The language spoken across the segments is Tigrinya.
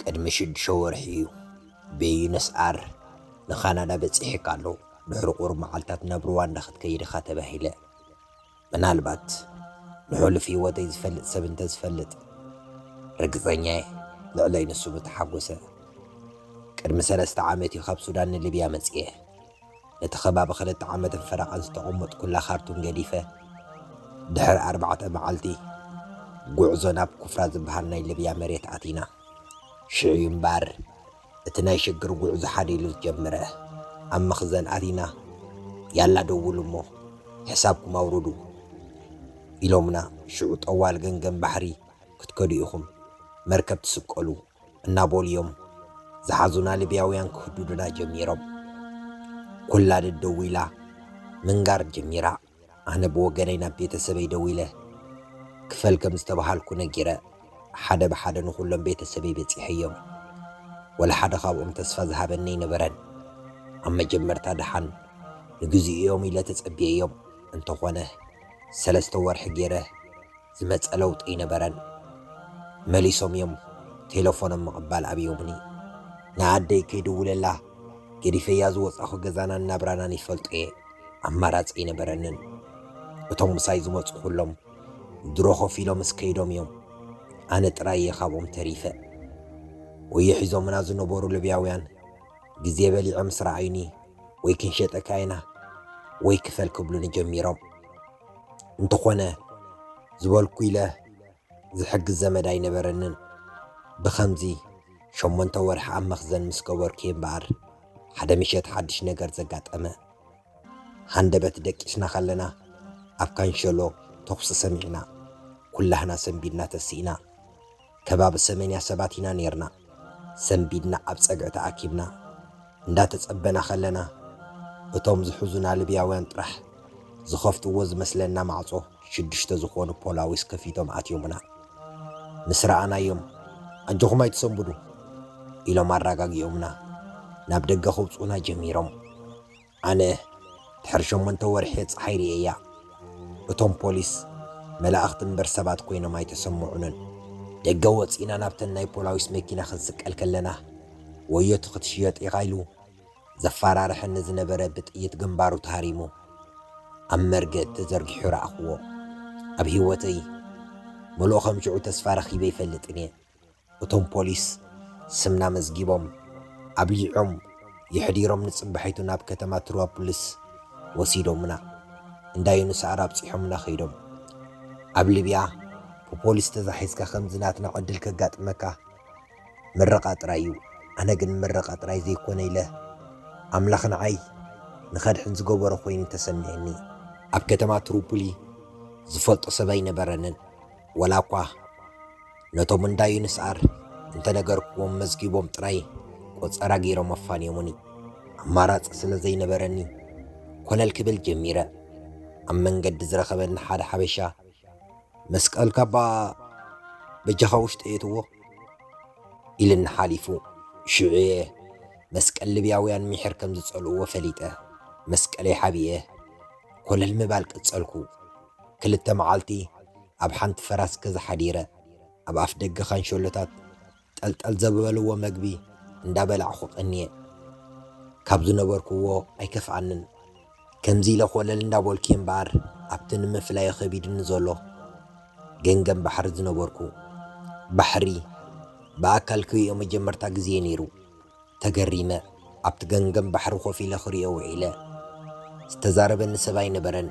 ቅድሚ ሽዱሽተ ወርሒ'ዩ ብዩነስ ኣር ንካናዳ በጺሒካ ኣሎ፣ ድሕሪ ቁሩብ መዓልታት ናብ ሩዋንዳ ክትከይድ ኢኻ ተባሂለ። ምናልባት ንሕሉፍ ህይወተይ ዝፈልጥ ሰብ እንተዝፈልጥ ርግጸኛ'የ ልዕለይ ንሱ ምተሓጎሰ። ቅድሚ ሰለስተ ዓመት'ዩ ካብ ሱዳን ንሊብያ መጺኤ። ነቲ ከባቢ ክልተ ዓመትን ፈረቓን ዝተቐመጥኩላ ካርቱም ገዲፈ፣ ድሕሪ ኣርባዕተ መዓልቲ ጉዕዞ ናብ ኩፍራ ዝበሃል ናይ ልብያ መሬት ኣቲና። ሽዑ'ዩ እምበኣር እቲ ናይ ሽግር ጉዕዞ ሓደ ኢሉ ዝጀመረ። ኣብ መኽዘን ኣቲና፣ ያላ ደውሉ እሞ ሕሳብኩም ኣውርዱ ኢሎምና። ሽዑ ጠዋል ገምገም ባሕሪ ክትከዱ ኢኹም፣ መርከብ ትስቀሉ፣ እናበሉ እዮም ዝሓዙና ልብያውያን ክህዱዱና ጀሚሮም። ኩላድድ ደዊላ ምንጋር ጀሚራ። ኣነ ብወገነይ ናብ ቤተሰበይ ደዊለ ክፈል ከም ዝተበሃልኩ ነጊረ ሓደ ብሓደ ንኹሎም ቤተሰበይ በጺሐዮም። ወላ ሓደ ካብኦም ተስፋ ዝሃበኒ ኣይነበረን። ኣብ መጀመርታ ድሓን ንግዚኡ እዮም ኢለ ተጸብየዮም። እንተኾነ ሰለስተ ወርሒ ገይረ ዝመጸ ለውጢ ኣይነበረን። መሊሶም እዮም ቴለፎኖም ምቕባል ኣብዮምኒ። ንኣደይ ከይድውለላ ገዲፈያ ዝወጻኹ ገዛናን ናብራናን ይፈልጦ'የ። ኣማራጺ ኣይነበረንን። እቶም ምሳይ ዝመጹ ኩሎም ድሮ ኮፍ ኢሎምስ ከይዶም እዮም። ኣነ ጥራይ እየ ካብኦም ተሪፈ። ወዮ ሒዞምና ዝነበሩ ልብያውያን ግዜ በሊዖም ምስ ረኣዩኒ ወይ ክንሸጠካ ኢና ወይ ክፈል ክብሉኒ ጀሚሮም። እንተኾነ ዝበልኩ ኢለ ዝሕግዝ ዘመድ ኣይነበረንን። ብኸምዚ ሸሞንተ ወርሒ ኣብ መኽዘን ምስ ገበርኩ'የ እምበኣር ሓደ ምሸት ሓድሽ ነገር ዘጋጠመ። ሃንደበት ደቂስና ከለና ኣብ ካንሸሎ ተኹሲ ሰሚዕና። ኩላህና ሰንቢድና ተሲእና። ከባቢ ሰሜንያ ሰባት ኢና ኔርና ሰንቢድና ኣብ ጸግዒ ተኣኪብና እንዳ ተጸበና ከለና እቶም ዝሕዙና ልብያውያን ጥራሕ ዝኸፍትዎ ዝመስለና ማዕጾ ሽዱሽተ ዝኾኑ ፖላዊስ ከፊቶም ኣትዮምና ምስ ረኣናዮም ኣጆኹም ኣይትሰንብዱ ኢሎም ኣራጋጊኦምና ናብ ደገ ከውጽኡና ጀሚሮም። ኣነ ድሕሪ ሸሞንተ ወርሒ ጸሓይ ርእየያ። እቶም ፖሊስ መላእኽቲ እምበር ሰባት ኮይኖም ኣይተሰምዑንን። ደገ ወጺእና ናብተን ናይ ፖላዊስ መኪና ክንስቀል ከለና ወዮ'ቲ ክትሽየጥ ኢኻ ኢሉ ዘፋራርሐኒ ዝነበረ ብጥይት ግንባሩ ተሃሪሙ ኣብ መርገጽ ተዘርጊሑ ረኣኽዎ። ኣብ ህይወተይ ምሉእ ከም ሽዑ ተስፋ ረኺበ ኣይፈልጥን'የ። እቶም ፖሊስ ስምና መዝጊቦም ኣብሊዖም የሕዲሮም ንጽባሒቱ ናብ ከተማ ትሮፕልስ ወሲዶምና እንዳ ዩኑስኣር ኣብጺሖምና ከይዶም ኣብ ሊብያ ብፖሊስ ተዛሒዝካ ከምዚ ናትና ዕድል ከጋጥመካ ምርቓ ጥራይ እዩ ኣነ ግን ምርቓ ጥራይ ዘይኮነ ኢለ ኣምላኽ ንዓይ ንኸድሕን ዝገበሮ ኮይኑ ተሰሚዕኒ ኣብ ከተማ ትሩፑሊ ዝፈልጦ ሰብ ኣይነበረንን ወላ እኳ ነቶም እንዳ ዩንስኣር እንተነገርክዎም መዝጊቦም ጥራይ ቆጸራ ገይሮም ኣፋንዮሙኒ። ኣማራጺ ስለ ዘይነበረኒ ኮለል ክብል ጀሚረ። ኣብ መንገዲ ዝረኸበኒ ሓደ ሓበሻ መስቀልካ'ባ በጃኻ ውሽጢ ኣየትዎ? ኢሉኒ ሓሊፉ። ሽዑ'የ መስቀል ልብያውያን ሚሒር ከም ዝጸልእዎ ፈሊጠ መስቀለይ ሓቢኤ ኮለል ምባል ቀጸልኩ። ክልተ መዓልቲ ኣብ ሓንቲ ፈራስ ገዛ ሓዲረ፣ ኣብ ኣፍደገ ካንሸሎታት ጠልጠል ዘበበልዎ መግቢ እንዳበላዕኹ ቀንየ። ካብ ዝነበርኩዎ ኣይከፍኣንን። ከምዚ ኢለ ኮለል እንዳበልኩ'የ እምበኣር ኣብቲ ንምፍላዩ ከቢዱኒ ዘሎ ገንገን ባሕሪ ዝነበርኩ። ባሕሪ ብኣካል ክርእዮ መጀመርታ ግዜ'ዩ ነይሩ። ተገሪመ ኣብቲ ገምገም ባሕሪ ኮፍ ኢለ ክሪኦ ውዒለ። ዝተዛረበኒ ሰብ ኣይነበረን።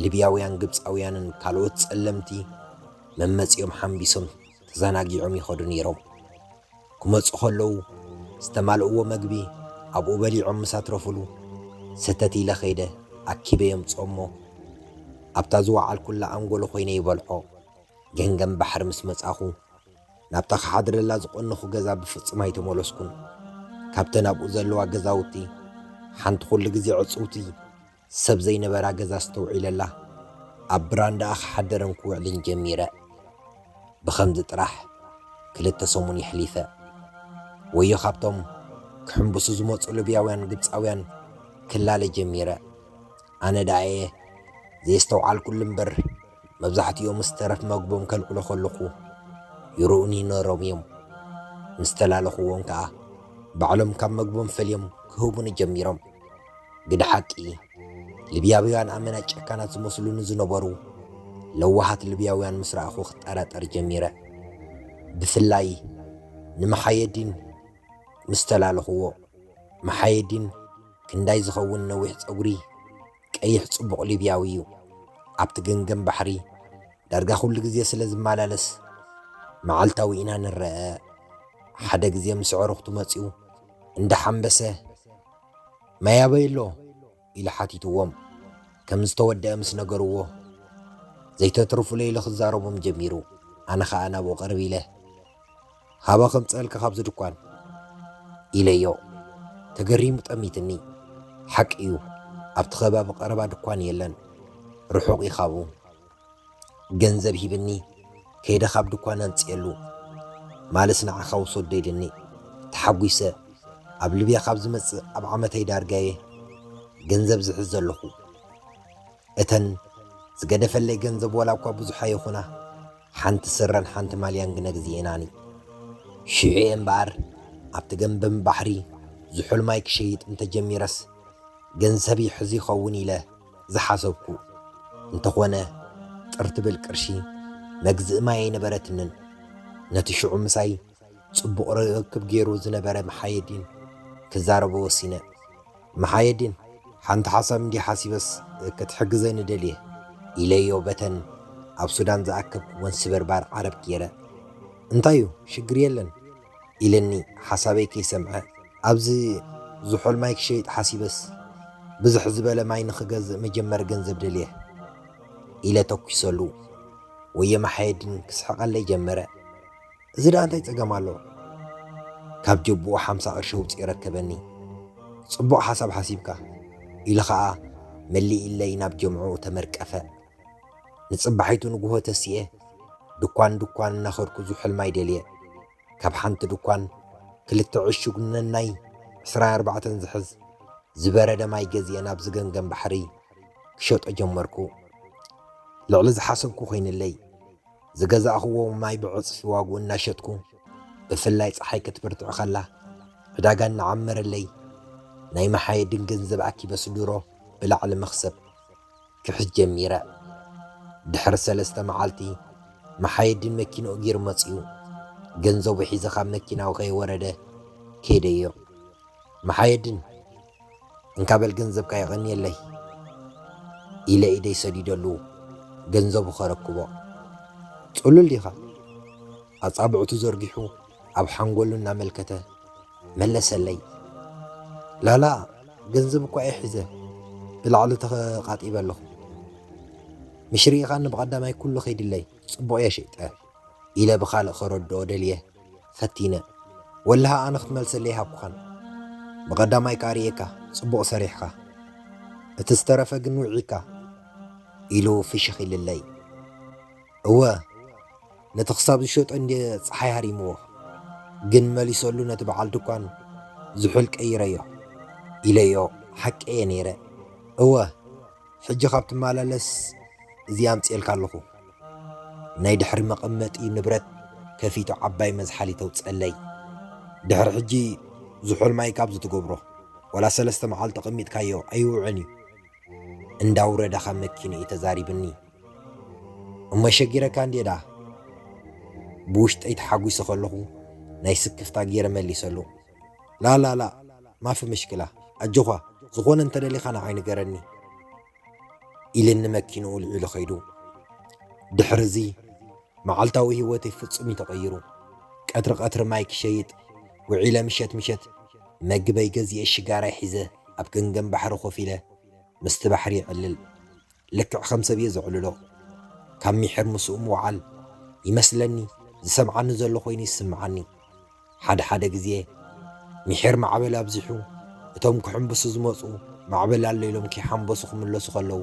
ሊብያውያን ግብጻውያንን ካልኦት ጸለምቲ መመጺኦም ሓምቢሶም ተዛናጊዖም ይኸዱ ነይሮም። ክመጹ ከለዉ ዝተማልእዎ መግቢ ኣብኡ በሊዖም ምስ ኣትረፉሉ ሰተት ኢለ ከይደ ኣኪበ የምጽኦ'ሞ ኣብታ ዝወዓልኩላ ኣንጎሎ ኮይነ ይበልዖ። ገንገም ባሕሪ ምስ መጻኹ ናብታ ክሓድረላ ዝቐነኹ ገዛ ብፍጹም ኣይተመለስኩን። ካብተን ኣብኡ ዘለዋ ገዛውቲ፣ ሓንቲ ኹሉ ግዜ ዕጽውቲ፣ ሰብ ዘይነበራ ገዛ ኣስተውዒለላ። ኣብ ብራንዳኣ ክሓድርን ክውዕልን ጀሚረ። ብኸምዚ ጥራሕ ክልተ ሰሙን የሕሊፈ። ወዮ ካብቶም ክሕምብሱ ዝመጹ ልብያውያን ግብጻውያን ክላለ ጀሚረ። ኣነ ደኣ'የ ዘየስተውዓልኩሉ እምበር፣ መብዛሕትኦምስ ተረፍ መግቦም ከልዕሉ ከለኹ ይርኡኒ ነይሮም እዮም። ምስ ተላለኹዎም ከኣ ባዕሎም ካብ መግቦም ፈልዮም ክህቡኒ ጀሚሮም። ግደ ሓቂ፣ ሊብያውያን ኣመና ጨካናት ዝመስሉኒ ዝነበሩ ለዋሃት ሊብያውያን ምስ ረኣኹ ክጠራጠር ጀሚረ። ብፍላይ ንመሓየዲን ምስ ተላለኹዎ። መሓየዲን ክንዳይ ዝኸውን ነዊሕ ጸጉሪ፣ ቀይሕ ጽቡቕ ሊብያዊ እዩ። ኣብቲ ገንገም ባሕሪ ዳርጋ ኩሉ ግዜ ስለ ዝመላለስ መዓልታዊ ኢና ንረኣ። ሓደ ግዜ ምስ ኣዕሩኽቱ መጺኡ እንዳ ሓምበሰ ማይ ኣበይ ኣሎ? ኢሉ ሓቲትዎም ከም ዝተወደኣ ምስ ነገርዎ ዘይተትርፉለይ ኢሉ ክዛረቦም ጀሚሩ። ኣነ ከኣ ናብኡ ቅርብ ኢለ። ሃባ ከምጽኣልካ ካብዚ ድኳን ኢለዮ። ተገሪሙ ጠሚትኒ። ሓቂ'ዩ ኣብቲ ከባቢ ቀረባ ድኳን የለን ርሑቕ'ዩ ካብኡ። ገንዘብ ሂብኒ ከይደ ካብ ድኳን ኣምጽኤሉ። ማልስ ንዓኻ ውሰዶ ኢልኒ። ተሓጒሰ። ኣብ ልብያ ካብ ዝመጽእ ኣብ ዓመተይ ዳርጋ'የ ገንዘብ ዝሕዝ ዘለኹ። እተን ዝገደፈለይ ገንዘብ ዋላ እኳ ብዙሓ ይኹና፣ ሓንቲ ስረን ሓንቲ ማልያን ግነ ግዜኤናኒ። ሽዑ'የ እምበኣር ኣብቲ ገምበም ባሕሪ ዝሑል ማይ ክሸይጥ እንተ ጀሚረስ ገንሰብ ይሕዝ ይኸውን ኢለ ዝሓሰብኩ። እንተኾነ ጥር ትብል ቅርሺ መግዝኢ ማይ ኣይነበረትንን። ነቲ ሽዑ ምሳይ ጽቡቕ ርክብ ገይሩ ዝነበረ መሓየዲን ክዛረቦ ወሲነ። መሓየዲን ሓንቲ ሓሳብ እንድየ ሓሲበስ ክትሕግዘኒ ደልየ ኢለዮ በተን ኣብ ሱዳን ዝኣከብክወን ወንስበርባር ዓረብ ጌረ እንታይ እዩ ሽግር የለን ኢለኒ ሓሳበይ ከይሰምዐ ኣብዚ ዝሑል ማይ ክሸይጥ ሓሲበስ ብዝሕ ዝበለ ማይ ንክገዝእ መጀመሪ ገንዘብ ደልየ ኢለ ተኩሰሉ ወየ መሓየዲን ክስሕቀለይ ጀመረ። እዚ ደኣ እንታይ ጸገም ኣለዎ? ካብ ጀብኡ ሓምሳ ቅርሺ ኣውጺኡ የረከበኒ። ጽቡቕ ሓሳብ ሓሲብካ። ኢሉ ከኣ መሊኢለይ ናብ ጀምዕኡ ተመርቀፈ። ንጽባሒቱ ንግሆ ተሲኤ ድኳን ድኳን እናኸድኩ ዝሑልማይ ደልየ። ካብ ሓንቲ ድኳን ክልተ ዕሹግ ነናይ ዕስራ ኣርባዕተን ዝሕዝ ዝበረደ ማይ ገዚኤ ናብ ዝገምገም ባሕሪ ክሸጦ ጀመርኩ። ልዕሊ ዝሓሰብኩ ኮይንለይ። ዝገዛእኽዎ ማይ ብዕፅፊ ዋግኡ እናሸጥኩ ብፍላይ ፀሓይ ክትብርትዕ ኸላ ዕዳጋ እናዓመረለይ ናይ መሓየድን ገንዘብ ኣኪበ ስድሮ ብላዕሊ መኽሰብ ክሕዝ ጀሚረ። ድሕሪ ሰለስተ መዓልቲ መሓየድን መኪንኡ ጊሩ መፂኡ። ገንዘቡ ሒዘ ካብ መኪናኡ ከይወረደ ከይደዮ። መሓየድን እንካ በል ገንዘብካ የቐንየለይ ኢለ ኢደይ ሰዲደሉ ገንዘቡ ከረክቦ ጽሉል ዲኻ ኣጻብዕቱ ዘርጊሑ ኣብ ሓንጎሉ እናመልከተ መለሰለይ ላላ ገንዘብ እኳ እየ ሒዘ ብላዕሊ ተቃጢበ ኣለኹ ምሽ ርኢኻኒ ብቐዳማይ ኩሉ ከይድለይ ጽቡቕ እየ ሸይጠ ኢለ ብኻልእ ከረድኦ ደልየ ፈቲነ ወላሂ ኣነ ክትመልሰለይ ኣይሃብኩኻን ብቐዳማይካ ኣርኤካ ጽቡቕ ሰሪሕኻ እቲ ዝተረፈ ግን ውዒካ ኢሉ ፍሽኽ ኢልለይ እወ ነቲ ክሳብ ዝሸጦ እንድየ ፀሓይ ሃሪምዎ ግን መሊሰሉ ነቲ በዓል ድኳን ዝሑል ቀይረዮ ኢለዮ ሓቀየ ነይረ እወ ሕጂ ካብ ትመላለስ እዚ ኣምጺኤልካ ኣለኹ። ናይ ድሕሪ መቐመጢ ንብረት ከፊቱ ዓባይ መዝሓሊ ተውጽኣለይ። ድሕሪ ሕጂ ዝሑል ማይ ካብዚ ትገብሮ ዋላ ሰለስተ መዓልቲ ኣቐሚጥካዮ ኣይውዕን እዩ። እንዳውረደ ካብ መኪንኡ ተዛሪብኒ። እሞ ሸጊረካ እንድየ ደኣ። ብውሽጠይ ተሓጒሰ ከለኹ ናይ ስክፍታ ገይረ መሊሰሉ። ላላላ ማፊ ምሽክላ ኣጆዃ ዝኾነ እንተደሊኻ ንዓይ ንገረኒ ኢልኒ መኪንኡ ኣልዒሉ ከይዱ። ድሕርዚ መዓልታዊ ህይወተይ ፍጹም እዩ ተቐይሩ። ቀትሪ ቀትሪ ማይ ክሸይጥ ውዒለ ምሸት ምሸት መግበይ ገዚኤ ሽጋራይ ሒዘ ኣብ ገምገም ባሕሪ ኮፍ ኢለ ምስቲ ባሕሪ የዕልል። ልክዕ ከም ሰብ እየ ዘዕልሎ። ካብ ሚሕር ምስኡ ምውዓል፣ ይመስለኒ ዝሰምዓኒ ዘሎ ኮይኑ ይስምዓኒ። ሓደ ሓደ ግዜ ሚሒር ማዕበል ኣብዚሑ እቶም ክሕምብሱ ዝመጹ ማዕበል ኣሎ ኢሎም ከይሓምበሱ ክምለሱ ከለዉ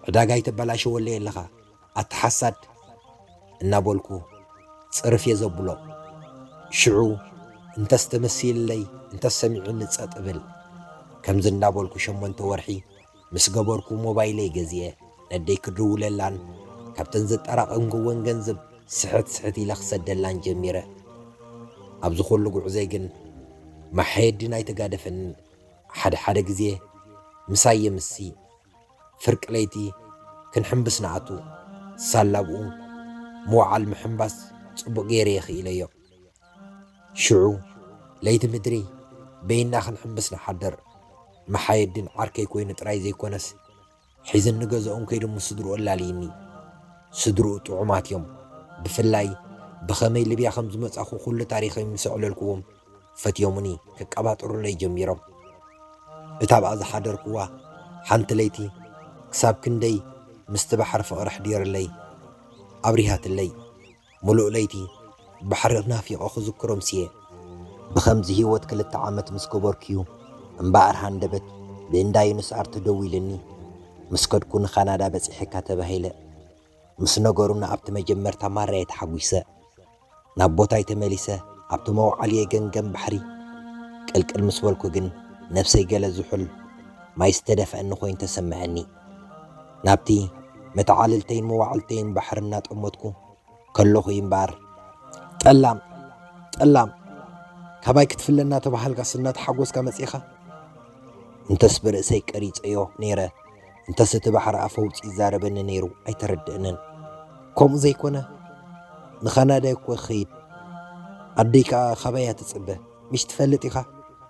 ዕዳጋ ኣይተበላሸወለይ ኣለኻ ኣቲ ሓሳድ እናበልኩ ጽርፍ እየ ዘብሎ። ሽዑ እንተስ ተመሲልለይ እንተስ ሰሚዑኒ ጸጥ እብል። ከምዚ እንዳበልኩ ሸሞንተ ወርሒ ምስ ገበርኩ ሞባይለይ ገዚኤ ነደይ ክድውለላን ካብተን ዘጠራቐምክወን ገንዘብ ስሕት ስሕት ኢለ ክሰደላን ጀሚረ። ኣብዚ ኩሉ ጉዕዞይ ግን ማሕየዲን ኣይተጋደፈንን፣ ሓደ ሓደ ግዜ ምሳይ የምሲ፣ ፍርቂ ለይቲ ክንሕምብስ ንኣቱ፣ ሳላ ኣብኡ ምውዓል ምሕምባስ ጽቡቕ ገይረ የኽኢለዮ። ሽዑ ለይቲ ምድሪ በይንና ክንሕምብስ ንሓድር። መሓየዲን ዓርከይ ኮይኑ ጥራይ ዘይኮነስ ሒዝኒ ገዝኦም ከይዱ ምስ ስድርኡ ኣላልይኒ። ስድርኡ ጥዑማት እዮም። ብፍላይ ብኸመይ ልብያ ከም ዝመጻኹ ኩሉ ታሪኸይ ምስ ኣዕለልኩዎም ፈትዮሙኒ ከቀባጥሩለይ ጀሚሮም። እታ ኣብኣ ዝሓደርኩዋ ሓንቲ ለይቲ ክሳብ ክንደይ ምስቲ ባሕሪ ፍቕሪ ኣሕዲርለይ ኣብሪሃትለይ። ምሉእ ለይቲ ባሕሪ ናፊቐ ክዝክሮ ኣምስየ። ብኸምዚ ህይወት ክልተ ዓመት ምስ ገበርኩ'ዩ እምበኣር ሃንደበት ብእንዳ ዩኑስ ኣር ተደዊሉኒ ምስ ከድኩ ንካናዳ በጺሐካ ተባሂለ። ምስ ነገሩኒ ኣብቲ መጀመርታ ማራ'የ ተሓጒሰ። ናብ ቦታይ ተመሊሰ ኣብቲ መውዓሊ'የ ገምገም ባሕሪ ቅልቅል ምስ በልኩ ግን ነብሰይ ገለ ዝሑል ማይ ዝተደፍኣኒ ኮይኑ ተሰመዐኒ። ናብቲ መተዓልልተይን መዋዕልተይን ባሕሪ እናጠመትኩ ከለኹ እዩ እምበኣር ጠላም ጠላም ካባይ ክትፍለ እናተባሃልካስ እናተሓጎስካ መጺኻ እንተስ ብርእሰይ ቀሪጸዮ ነይረ እንተስ እቲ ባሕሪ ኣፈውፂ ይዛረበኒ ነይሩ ኣይተረድእንን ከምኡ ዘይኮነ ንካናዳ እኮ ክኸይድ ኣደይ ከዓ ካባያ ትፅበ ሚስ ትፈልጥ ኢኻ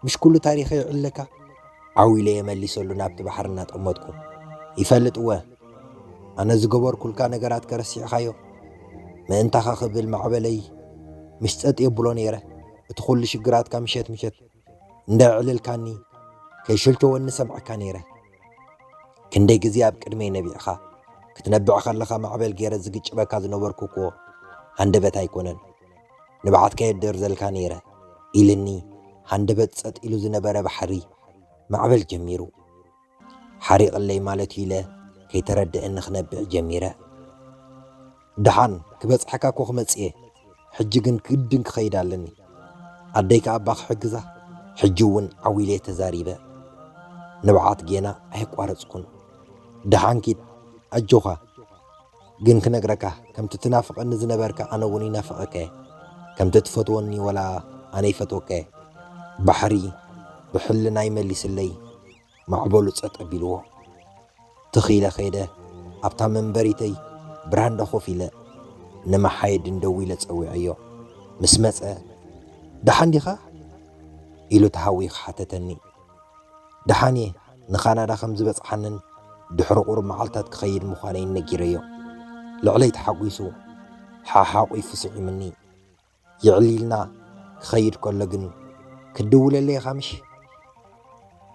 ምሽ ኩሉ ታሪኸይ ይዕልለካ። ዓው ኢለ'የ መሊሰሉ ናብቲ ባሕሪ እናጠመትኩ። ይፈልጥ እወ ኣነ ዝገበርኩልካ ነገራትከ ረሲዕኻዮ? ምእንታኻ ክብል ማዕበለይ ሚስ ጸጥ የብሎ ነይረ። እቲ ኩሉ ሽግራትካ ምሸት ምሸት እንደዕልልካኒ ከይሸልቸወኒ ሰምዐካ ነይረ። ክንደይ ግዜ ኣብ ቅድመይ ነቢዕኻ። ክትነብዕ ከለኻ ማዕበል ገይረ ዝግጭበካ ዝነበርኩ'ኮ ሃንደበት ኣይኮነን። ንብዓት ከየድር ዘልካ ነይረ ኢልኒ ሃንደበት ጸጥ ኢሉ ዝነበረ ባሕሪ ማዕበል ጀሚሩ ሓሪቕለይ ማለትዩ ኢለ ከይተረደእኒ ክነብዕ ጀሚረ ድሓን ክበጽሐካ እኮ ክመጽእየ ሕጂ ግን ግድን ክኸይድ ኣለኒ ኣደይ ከኣ እባ ክሕግዛ ሕጂ እውን ዓዊለየ ተዛሪበ ንብዓት ጌና ኣየቋረጽኩን ድሓን ኪድ ኣጆኻ ግን ክነግረካ ከምቲ ትናፍቀኒ ዝነበርካ ኣነ ውን ይናፍቀከ ከምቲ ትፈትወኒ ወላ ኣነ ይፈትወከ ባሕሪ ብሕልናይ መሊስለይ ማዕበሉ ጸጥ ኣቢልዎ ትኽ ኢለ ከይደ ኣብታ መንበሪተይ ብራንዳ ኮፍ ኢለ ንመሓየድን ደዊለ ጸዊዐዮ ምስ መጸ ደሓን ዲኻ ኢሉ ተሃዊኽ ሓተተኒ ደሓን እየ፣ ንካናዳ ከም ዝበጽሓንን ድሕሪ ቁሩብ መዓልታት ክኸይድ ምዃነይን ነጊረዮ። ልዕለይ ተሓጒሱ ሓሓቝፉ ስዒሙኒ። የዕሊልና ክኸይድ ከሎ ግን ክትድውለለይ ኢኻ ምሽ?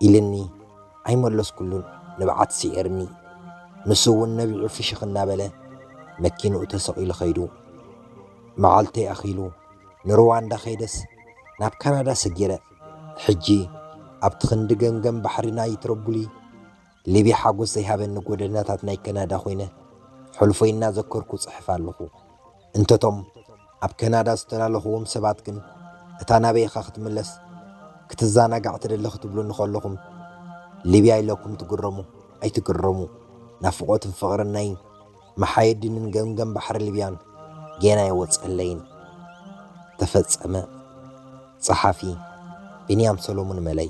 ኢሉኒ። ኣይመለስኩሉን፣ ንብዓት ስዒርኒ። ንሱ እውን ነቢዑ ፍሽኽ እናበለ መኪንኡ ተሰቒሉ ከይዱ። መዓልተይ ኣኺሉ ንሩዋንዳ ከይደስ ናብ ካናዳ ሰጊረ። ሕጂ ኣብቲ ክንዲ ገምገም ባሕሪ ናይ ትሮቡሊ ሊብያ ሓጎስ ዘይሃበኒ ጎደናታት ናይ ከናዳ ኮይነ ሕሉፈይ እናዘከርኩ እጽሕፍ ኣለኹ። እንተቶም ኣብ ከናዳ ዝተላለኹዎም ሰባት ግን እታ ናበይ ኢኻ ክትምለስ ክትዛናጋዕ ትደሊ ክትብሉኒ ከለኹም ሊብያ ኢለኩም ትግረሙ ኣይትግረሙ ናፍቖትን ፍቕርን ናይ መሓየዲንን ገምገም ባሕሪ ሊብያን ጌና ኣይወጸለይን። ተፈጸመ። ጸሓፊ፣ ቢንያም ሰሎሙን መለይ።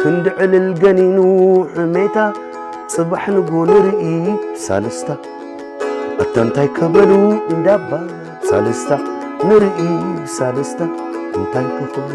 ክንዲ ዕልል ገኒኑ ሕሜታ ጽባሕ ንግሆ ንርኢ ሳልስታ ኣታ እንታይ ከበሉ እንዳባ ሳልስታ ንርኢ ሳልስታ እንታይ ከኽብሉ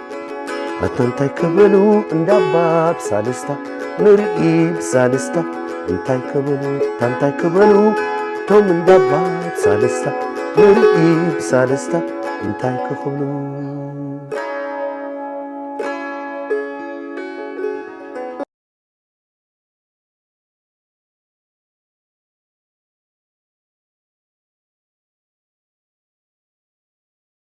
ኣታ እንታይ ክብሉ እንዳባ ብሳልስታ ንርኢ ብሳልስታ እንታይ ክብሉ ኣታ እንታይ ክብሉ እቶም እንዳባ ብሳልስታ ንርኢ ብሳልስታ እንታይ ክኽብሉ